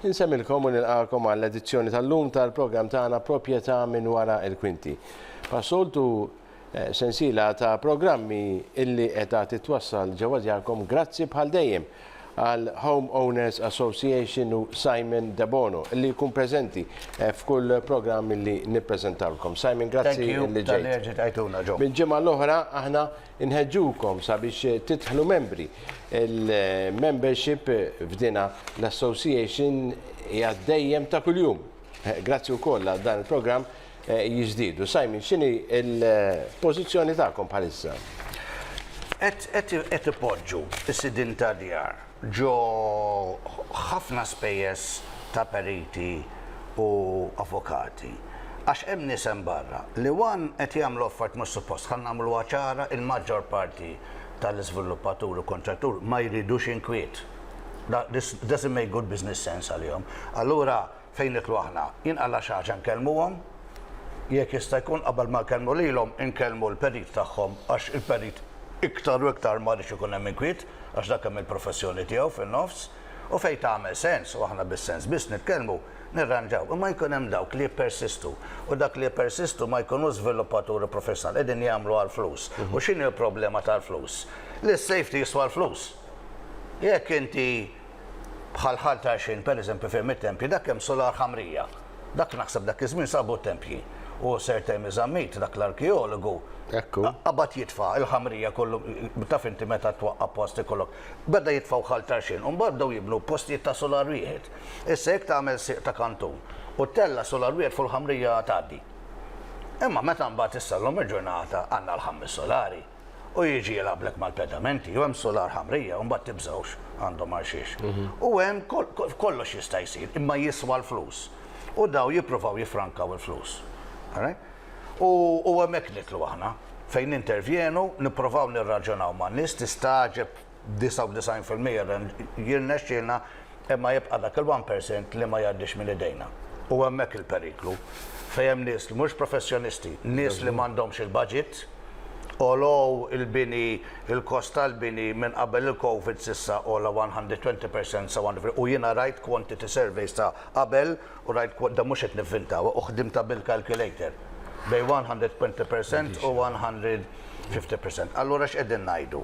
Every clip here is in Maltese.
Insemmilkom u nilqakom għall-edizzjoni tal-lum tal-programm tagħna Proprjetà minn wara il-kwinti. Passoltu eh, sensiela ta' programmi illi qiegħda titwassal ġewwa djarkom grazzi bħal dejjem għal Home Owners Association u Simon Debono li jkun preżenti eh, f'kull programm li nippreżentawlkom. Simon, grazzi li ġejt. Minn ġimgħa l-oħra aħna Inħeġġukom sabiex tidħlu membri. Il-membership f'dina l-association hija dejjem ta' kuljum. Grazzi wkoll għal dan il-programm jiżdiedu. Simon, x'inhi l-pożizzjoni tagħkom bħalissa? Qed ipoġġu s-sidien tad-djar Ġo ħafna spejjeż ta' periti u avukati. Għax hemm nies hemm barra li one qed jagħmlu affarijiet mhux suppost. Ħa nagħmluha ċara, il-maġġor parti tal-iżviluppaturi u kuntratturi ma jridux inkwiet. This doesn't make good business sense għalihom. Allura Fejn niklu aħna? Jinqala xi ħaġa nkellmuhom? Jekk jista' jkun qabel ma nkellmu lilhom inkellmu l-perit tagħhom għax il-perit iktar u iktar ma jridx ikun hemm inkwiet għax dak hemm il-professjoni tiegħu fin-nofs u fejn tagħmel sens u aħna bis-sens biss nitkellmu nirranġaw imma jkun hemm dawk li jippersistu u dak li jippersistu ma jkunux żviluppaturi professjonali qegħdin jagħmlu għall-flus u x'inhi l-problema tal-flus? Li s-safety jiswa l-flus. Jekk inti bħal Ħal t'Għajxien pereżempju fejn mit-tempji dak hemm sular ħamrija. Dak naħseb dak iż-żmien sabu t-tempji. U Sir Temi Zammit, dak l-arkeologu, qabad jitfa' il-ħamrija kollu taf inti meta twaqqa' post ikollok. Beda jitfgħu Ħal t'Għajxien u mbagħad bdew jibnu postijiet ta' sular wieħed. Issa jekk tagħmel sieq ta' kantun u ttella' sular wieħed fuq il-ħamrija tgħaddi. Imma meta mbagħad issa llum il-ġurnata għandna l-ħames sulari. u jiġi jilgħablek mal-pedamenti, jew hemm sular ħamrija u mbagħad tibżgħux għandhom għal xiex. Mhm. U hemm kollox jista' jsir, imma jiswa l-flus. U daw jippruvaw jifrankaw il-flus. U hemmhekk nitlu aħna fejn intervjenu, nipprovaw nirraġunaw ma' nies tistaġeb 99 fil-mija jirnexxielna imma jibqa' dak il-one percent li ma jgħaddix minn idejna. U hemmhekk il-periklu. Fejn hemm nies li mhux professjonisti, nies li m'għandhomx il-baġit, għolow il-bini, il-kost tal-bini minn qabel il-Covid s'issa għola 120 percent sa 150 u jiena rajt quantity surveys ta' qabel U rajt quote, dan mhux qed nivvintawa, u ħdimtha bil-calculator, bejn 120 percent u 150 percent. Allura x'qegħdin ngħidu?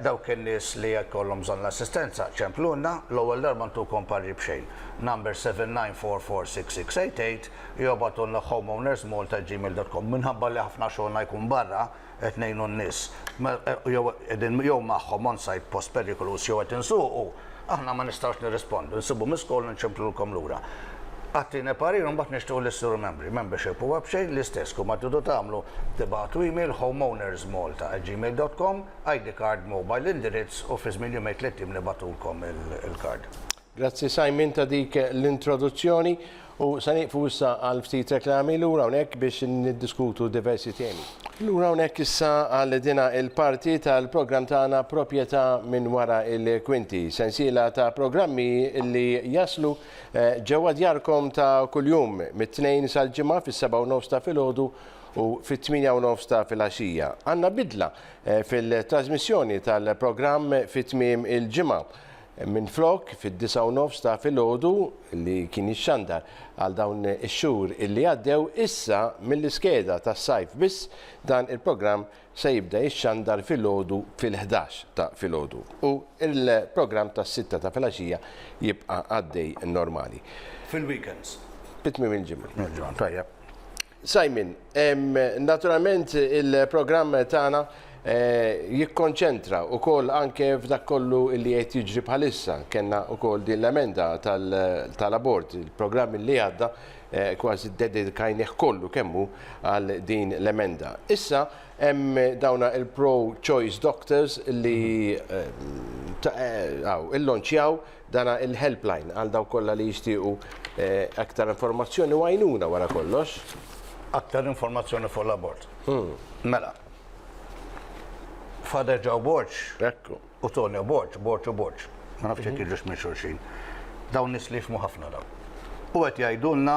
Dawk in-nies li jkollhom bżonn l-assistenza, ċemplulna, l-ewwel darba ntukom parri b'xejn. Number 79446688, jew ibgħatulna homeownersmalta@gmail.com. Minħabba li ħafna xogħolna jkun barra, qed ngħinu n-nies, jew qegħdin jew magħhom on site post perikoluż jew qed insuqu, aħna ma nistgħux nirrispondu, nsibu miss call u nċemplulkom lura. Agħtini parir u mbagħad nixtiequ li ssiru membri. Membership huwa b'xejn l-istess, kull ma tridu tagħmlu tibagħtu email homeownersmalta@gmail.com, ID card, mobile, indirizz u fi żmien jumejn tliet ijiem nibagħtulkom il-card. Grazzi Simon ta' dik l-introduzzjoni u se nieqfu issa għal ftit reklami lura hawnhekk biex niddiskutu diversi temi. Lura hawnhekk issa għal dina il-parti tal-programm tagħna Proprjetà minn wara il-kwinti, sensiela ta' programmi li jaslu ġewwa djarkom ta' kuljum mit-Tnejn sal-Ġimgħa fis-sebgħa u nofs ta' filgħodu u fit-tmienja u nofs ta' filgħaxija. Għandna bidla fil-trażmissjoni tal-programm fi tmiem il-ġimgħa. Minflok, fid-disgħa u nofs ta' filgħodu, li kien jixxandar għal dawn ix-xhur illi għaddew, issa mill-iskeda tas-sajf biss dan il-programm se jibda jixxandar filgħodu fil-ħdax ta' filgħodu u l-programm tas-sitta ta' filgħaxija jibqa' għaddej normali. Fil-weekends. Fi tmiem il-ġimgħa. Tajjeb. Simon, naturalment il-programm tagħna jikkonċentra wkoll anke f'dak kollu li qed jiġri bħalissa. Kenna wkoll din l-emenda tal-abort, il-programm li għadda kważi dedikajnih kollu kemmu għal din l-emenda. Issa hemm dawna il-pro-choice doctors li illonċjaw Dan il-helpline għal dawk kollha li jixtiequ aktar informazzjoni u għajnuna wara kollox. Aktar informazzjoni fuq l-abort. Mela. Father Joe Borg. Ekku. U Tonio Borg, Borg u Borg. Ma nafx jekk jiġux minn xulxin. Dawn nies li jifhmu ħafna dawn. U qed jgħidulna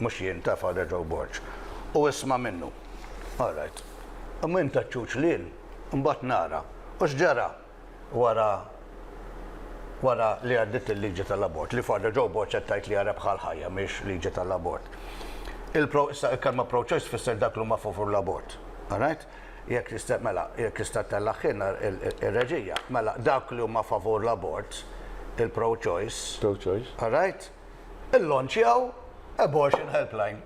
Mhux jien, ta' Father Joe Borg. U isma' minnu. All right. Imma jien ta' ċuċ lil, imbagħad nara. U x'ġara wara wara li għaddiet il-liġi tal-abort, li Father Joe Borg qed tgħid li hija rebħa għall-ħajja mhiex liġi tal-abort. Il-pro, issa il-kelma pro-choice tfisser dak li huma favur l-abort. All right? Jekk tista' mela, jekk tista' tellagħ ħin ir-reġija. Mela, dawk li huma favur l-abort, il-pro-choice. Pro-choice. All right? Illonċjaw Abortion Helpline.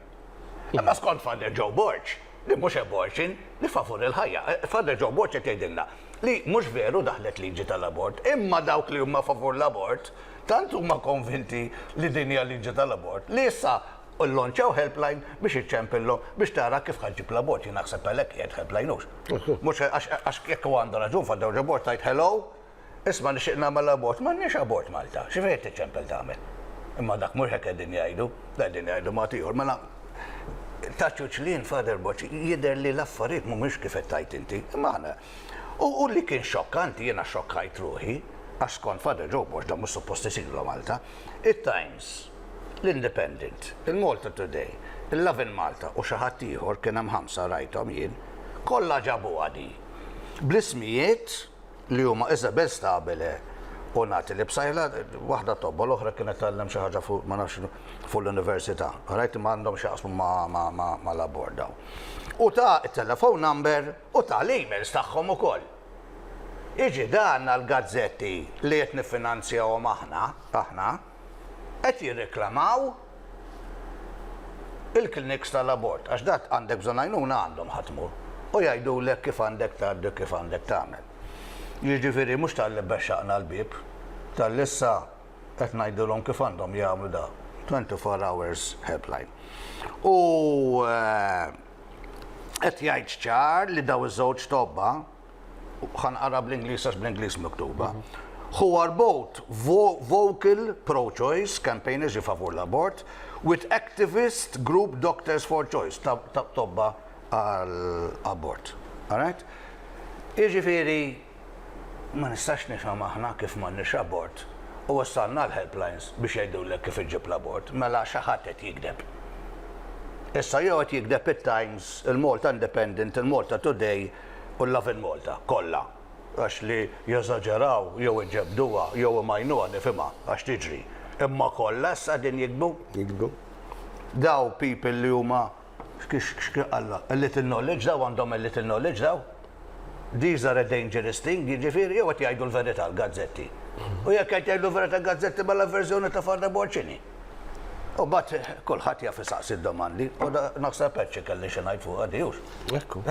Imma skont Father Joe Borg, li mhux abortion, li favur il-ħajja. Eh, Father Joe Borg qed jgħidilna li mhux veru daħlet liġi tal-abort, imma dawk li huma favur l-abort tant huma konvinti li din hija liġi tal-abort li issa u l-lonċaw helpline biex iċċempillu biex tara kif ħagġib la bot jina xseb għalek jgħed helpline ux. Mux għax jekk għandu raġun faddew ġabor tajt hello, Isma' nixtieq nagħmel abort, m'għandniex abort Malta, xi fejn qed tiċċempel tagħmel? Imma dak mhux hekk qegħdin jgħidu, qegħdin jgħidu mod ieħor. Mela ta' ċuċlien Father Boċ jidher li l-affarijiet mhumiex kif qed tgħid inti, imma aħna. U li kien xokkanti jiena xokkajt ruħi, għax skont Father Joe Boċ dan mhux suppost isir la Malta, it-Times, l-Independent, il-Malta Today, il-Lovin Malta u xi ħadd ieħor kien hemm ħamsa rajthom jien, kollha ġabuha di bl-ismijiet, li huma Isabel Stabile u Natalie Psaila, waħda tobba l-oħra kienet tgħallem xi ħaġa fuq ma nafx fuq l-università. Rajt ma għandhom x'jaqsmu ma' l-abort dawn. U ta it-telephone number u ta l-emails tagħhom ukoll. Jiġi dan għall-gazzetti li qed niffinanzjahom aħna, aħna. qed jirreklamaw il-kliniks tal-abort għax dak għandek bżonn għajnuna għandhom ħa tmur u jgħidulek kif għandek tgħaddi u kif għandek tagħmel. Jiġifieri mhux talli bexxaqna l-bieb, talli issa qed ngħidulhom kif għandhom jagħmlu da 24 hours helpline. U qed jgħid ċar li dawn iż-żewġ tobba, ħanqara bl-Ingliż għax bl-Ingliż miktuba, who are both vocal pro-choice campaigners ġi favur l-abort with activist group Doctors for Choice ta' tobba għall-abort. Alright? Iġifieri ma nistax nifhem aħna kif m'għandniex abort u wassalna l-helplines biex jgħidulek kif iġġib l-abort, mela xi ħadd qed jigdeb. Issa jew qed jigdeb it-Times, il-Malta Independent, il-Malta Today, u l-Lovin' Malta, kollha, għax li jeżaġeraw jew iġebbduha jew imajnuha nifhimha, għax tiġri, imma kollha issa qegħdin jiktbu? Jiktbu. Daw people li huma, x'Alla, a little knowledge, daw għandhom a little knowledge daw? These are a dangerous thing, jiġifieri jew qed jgħidu l-verità l-gazzetti. U jekk qed jgħidu l-verità l-gazzetti mela l-verżjoni ta' Father Bolt x'inhi? U bat kulħadd jaf isaqsi d-domandi, u naħseb perċi kelli xi ngħid fuq għadijux. Ekku.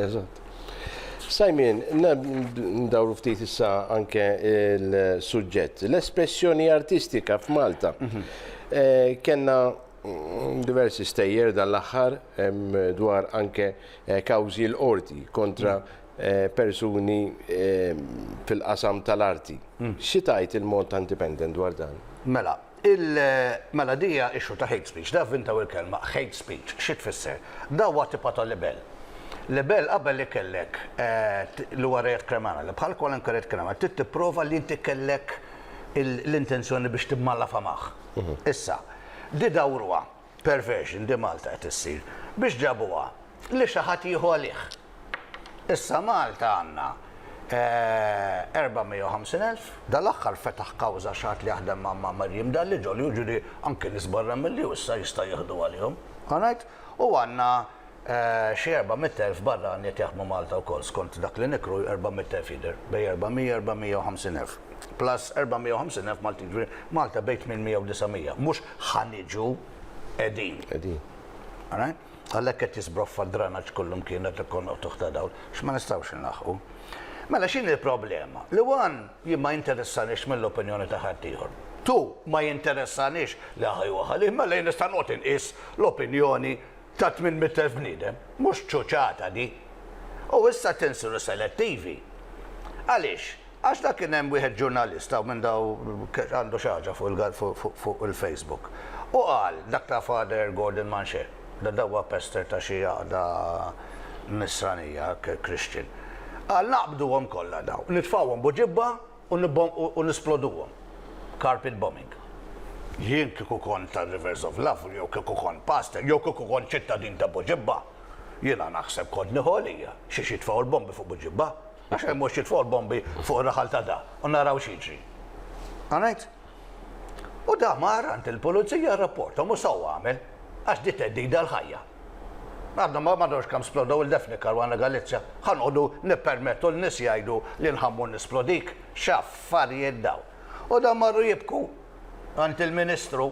Eżatt. Simon, ndawru ftit issa anke il-suġġett. L-espressjoni artistika f'Malta. Mhm. Eh, kenna mm, diversi stejjer dan l-aħħar dwar anke eh, kawżi l-qorti kontra mhm. persuni fil-qasam tal-arti. Xi tgħid il-Malta Independent dwar dan? Mela, mela di hija issue ta' hate speech. Taf intaw il-kelma hate speech xi tfisser? Da huwa tipa ta' libell. Libell qabel li kellek li huwa reat kriminali, bħal kwalunkwe reat kriminali, trid tipprova li inti kellek l-intenzjoni biex timmalafamah. Issa, di dawruha. Perversion di Malta qed issir. Biex ġabuha? Li xi ħadd jieħu għalih. Issa Malta għandna 450 elf. Dal-aħħar fetaħ kawża xi ħadd li jaħdem ma' Marjiem Dalli ġol-ju, jiġifieri anki nies barra mill-ju issa jista' jieħdu għalihom. All right? U għandna Xi erba' mitt elf barrani qed jaħdmu Malta wkoll, skont dak li niqru erba' mitt elf jidher, bejn erba' mija, erba' mija u ħamsin elf. Plus erba' mija u ħamsin elf Maltin, jiġifieri Malta bejn tmien mija u disa' mija. Mhux ħa niġu, qegħdin. Qegħdin. Alright? Għalhekk qed jisbroffa d-dranaġġ kullumkien qed ikollna qtugħ ta' dawl, għax ma nistgħux inlaħħqu. Mela x'inhi l-problema? Li one, jien ma jinteressanix mill-opinjoni ta' ħaddieħor. Two, ma jinteressanix li ħa jieħu ħalih, mela jien nista' noqgħod inqis l-opinjoni ta' 800,000 bniedem. Mhux ċuċata di! U issa tinsiru selettivi. Għaliex? Għax la kien hemm wieħed ġurnalista u minn daw għandu xi ħaġa fuq il-Facebook u qal dak ta' Father Gordon Manché, da dawwa pester ta' xi għaqda nisranija, Christian. Qal naqbduhom kollha daw, nitfgħuhom buġibba u nisploduhom. Carpet bombing. Jien kieku kont ta' Rivers of Love jew kieku kont pastor jew kieku kont ċittadin ta' Buġibba, jiena naħseb kont nieħu għalija xiex jitfgħu l-bombi fuq Buġibba, għax hemm mhux jitfgħu l-bombi fuq ir-raħal ta' da u naraw x'jiġri. Għanilt? U da mar għand il-pulizija rrapporthom u sew għamel għax di theddida għall-ħajja. Għadna ma nafx kemm splodew il-Daphne Caruana Galizia, ħa noqogħdu nippermettu lin-nies jgħidu li nħammu nisplodik? X'affarijiet dawn! U dawn marru jibku għand il-Ministru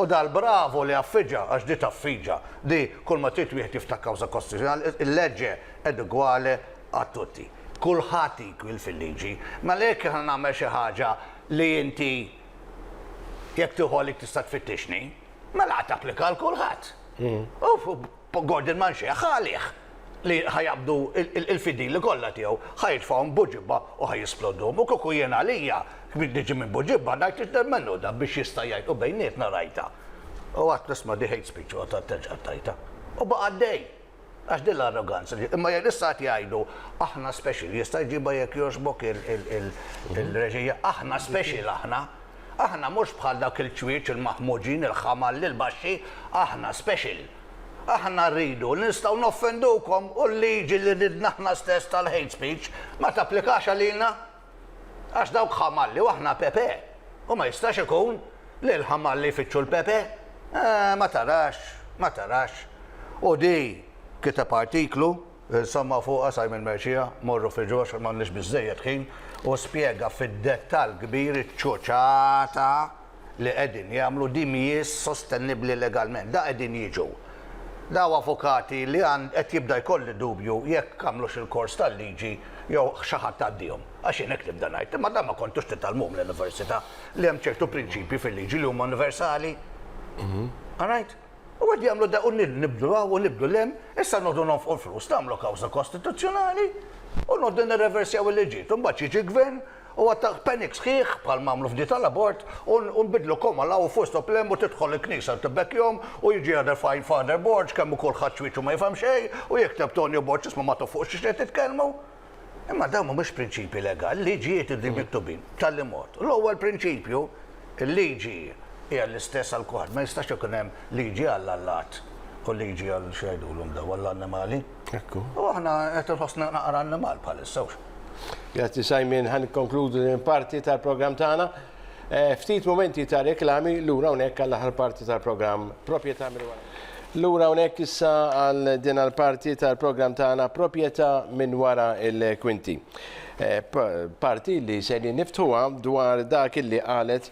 u dar bravu li affiġa, għax di taffiġa, di kull ma trid wieħed jiftaħ kawża kostituzzjonali, il-legge ed uguale a tutti. Kulħadd equal fil-liġi. Mela jekk jiena nagħmel xi ħaġa li inti jekk tieħu għalik tista' tfittixni, Mela għad applika għal kulħadd. Hmm. U Gordon Manxie ħalih li ħajabdu il-fidili kollha tiegħu ħajtfahom buġibba u ħajisplodhom. U kuku jien għalija kbir diġi minn buġibba ngħid li da biex jista' jgħid u bejnietna rajta. U għad nisma' di hate speech u għad tajta. U baqa' dej. Għax din l-arroganza li. Imma jekk issa qed jgħidu aħna special, jista' jġibha jekk jogħġbok il-reġija, aħna special aħna. Aħna mhux bħal dawk il-ċwieċ il-maħmuġin, il-ħamalli, il-baxxi, aħna special. Aħna rridu li nistgħu noffendukom u l-liġi li ridna aħna stess tal-hate speech ma tapplikax għalina. Għax dawk ħamalli u aħna pepe. U ma jistax ikun li l-ħamalli jfittxu l-pepe. Eh, ma tarax, ma tarax. U di kiteb artiklu, insomma fuqha Simon Mercia, morru fih ġewwa għax m'għandniex biżżejjed ħin, u spjega fid-dettall kbir iċ-ċuċata. li qegħdin jagħmlu din mhijiex sostenibbli legalment. Da qegħdin jiġu. Da hu avukati li għand qed jibda jkolli dubju jekk għamlux il-kors tal-liġi jew xi ħadd għaddihom. Għax jien hekk nibda ngħid. Imma dan ma kontux titgħallmuhom l-università li hemm ċertu prinċipji fil-liġi li huma universali. All right? U qed jagħmlu da u nibdu hawn u nibdu l-hemm, issa noqogħdu nonfqu l-flus nagħmlu kawża kostituzzjonali u noqogħdu nirreversjaw il-liġijiet. Imbagħad jiġi gvern U għatak panic sħiħ, bħal m'għamlu f'di tal-abort, u nbidlu koma l-hawn u fost u plemb u tidħol il-knisa u tibbekkjhom u jiġi jagħder f'għajn Father Borg kemm hu kulħadd xwieġ u ma jifhem xejn u jikteb Tonio Borg isma' ma toffuqx x'qed titkellmu. Imma dawn m'humiex prinċipji legali, liġijiet irridu miktubin b'tali mod. L-ewwel prinċipju, il-liġi hija l-istess għal kulħadd, ma jistax ikun hemm liġi għall-allat u liġi għal x'jgħidulhom dawn, għall-annimali. Ekku. U aħna qed inħossna naqra annimal bħalissa hux. Grazzi Simon, ħan konkludu din parti tal-programm tagħna. Eh, ftit momenti ta' reklami lura hawnhekk għall-aħħar parti tal-programm Proprjetà minn wara. Lura hawnhekk issa għal din għall-parti tal-programm tagħna Proprjetà minn wara il-kwinti. Eh, parti li se niftħuha dwar dak li qalet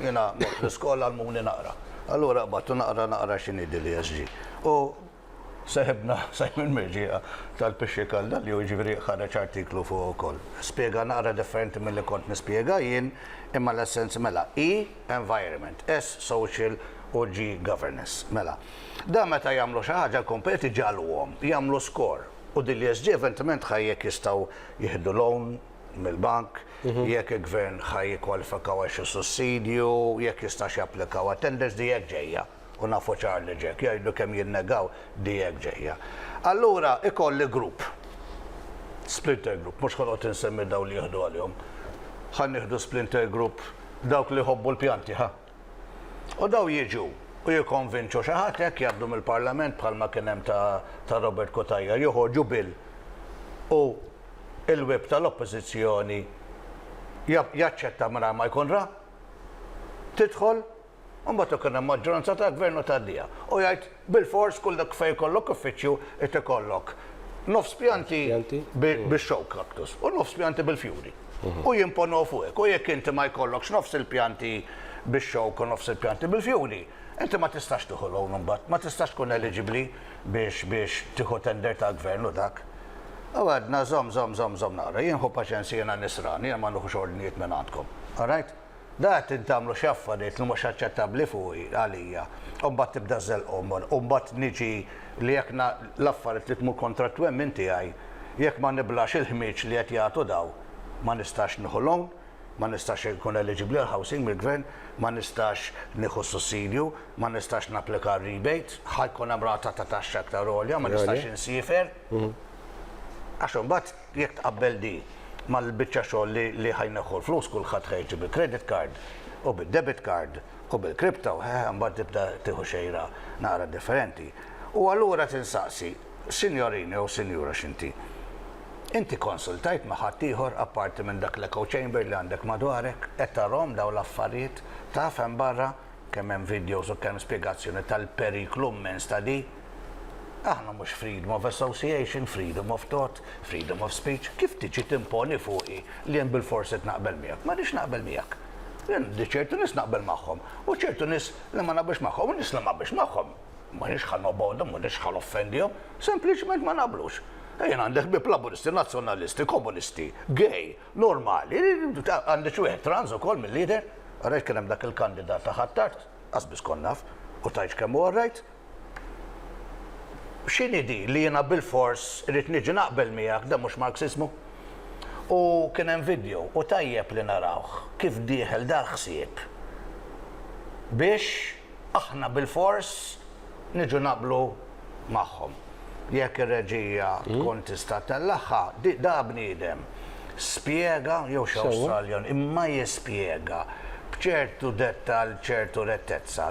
Jiena mort l-iskola għallmuni naqra. Allura qbadtu naqra naqra xi ngħidli li SG. U seħibna Simon Mirġieqa tal-Pixxi Kalda li hu jiġifieri ħareġ artiklu fuqu wkoll. Spjega naqra differenti milli kont nispjega jien imma l-essenz mela E, environment, S, social u G, governance. Mela, dan meta jagħmlu xi ħaġa l-kompetituri iġagħluhom jagħmlu score u din l-ESG eventement ħa jekk jistgħu jieħdu loan mill-bank, jekk il-Gvern ħa jikkwalifikaw għal xi sussidju, jekk jistax japplikaw għat-tenders, di hekk ġejja, u nafu ċar li ġejja. Jgħidu kemm jinnegaw, di hekk ġejja. Allura ikolli grupp, splinter group, mhux ħa noqgħod insemmi dawk li jieħdu għalihom, ħa nieħdu splinter group dawk li jħobbu l-pjanti, ħa? U dawn jiġu u jikkonvinċu xi ħadd hekk jgħaddu mill-Parlament bħalma kien hemm ta' ta' Robert Cutajar joħorġu bill u l-Whip tal-Oppożizzjoni ja jaċċetta mingħajr ma jkun ra. Tidħol u mbagħad ikun hemm maġġoranza ta' Gvern u tgħaddiha. U jgħid Bilfors kull dak fejn ikollok uffiċċju irid ikollok nofs pjanti bix-xogħol cactus u nofs pjanti bil-fjuri. U jimponuha fuqek. U jekk inti ma jkollokx nofs il-pjanti bix-xogħol u nofs il-pjanti bil-fjuri, inti ma tistax tieħu loan imbagħad, ma tistax tkun eliġibbli biex biex tieħu tender tal-Gvern u dak. U għedna żomm, żomm, żomm, żomm naqra. Jien ħu paċenzja jiena nisrani, jiena ma nieħux ordnijiet mingħandkom. All right? Dak qegħdin tagħmlu xi affarijiet li mhux aċċettabbli fuqi, għalija. U mbagħad tibda żżellqhom. U mbagħad niġi li jekk l-affarijiet li tmur kontra t-twemmin tiegħi, jekk ma niblax il-ħmieġ li qed jagħtu dawn, ma nistax nieħu loan, ma nistax inkun eliġibbli għal housing mill-Gvern, ma nistax nieħu sussidju, ma nistax napplika għal rebate, ħa jkun hemm rata ta' taxxa aktar għolja, ma nistax insiefer. Għax imbagħad. Jekk tqabbel di mal-biċċa xogħol li ħa jneħħu l-flus kulħadd ħa jiġi bil-credit card u bid-debit card u bil-crypto, hehe, mbagħad tibda tieħu xejra naqra differenti. U allura tinsaqsi, Sinjorin jew Sinjura x'inti? Inti konsultajt ma' ħadd ieħor apparti minn dak l-echo chamber li għandek madwarek? Qed tarahom dawn l-affarijiet? Taf hemm barra kemm hemm videos u kemm spjegazzjoni tal-periklu mmens ta' di? Aħna mhux freedom of association, freedom of thought, freedom of speech, kif tiġi timponi fuqi li jien bilfors qed naqbel miegħek? Ma rridx naqbel miegħek. Jien għandi ċertu nies naqbel magħhom, u ċertu nies li ma naqbilx magħhom, u nies li ma naqbilx magħhom m'iniex ħa nobgħodhom, m'iniex ħa noffendihom, sempliċement ma naqblux. E jien għandi ħbieb laburisti, nazzjonalisti, komunisti, gay, normali, għandi xi wieħed trans ukoll mill-lider, għarajt kien hemm dak il-kandidat ta' ħattart, qasbis konnaf, u tajx kemm u għarajt, X'inhi din li jiena bilfors irrid niġi naqbel miegħek, dan mhux Marxismu? U kien hemm video u tajjeb li narawh kif dieħel dal-ħsieb biex aħna bilfors niġu naqblu magħhom. Jekk ir-reġija tkun tista' tellagħha, di da bniedem spjega jew x'Awstraljan imma jispjega b'ċertu dettall ċertu rettezza.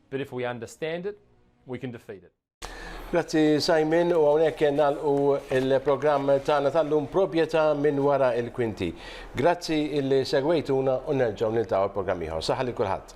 But if we understand it, we can defeat it. Grazzi Simon u għonek nalqu il-programm tagħna tal-lum proprjetà minn wara il-kwinti. Grazzi illi segwejtuna u nerġgħu niltaqgħu il-programm ieħor. Saħħa li kulħadd.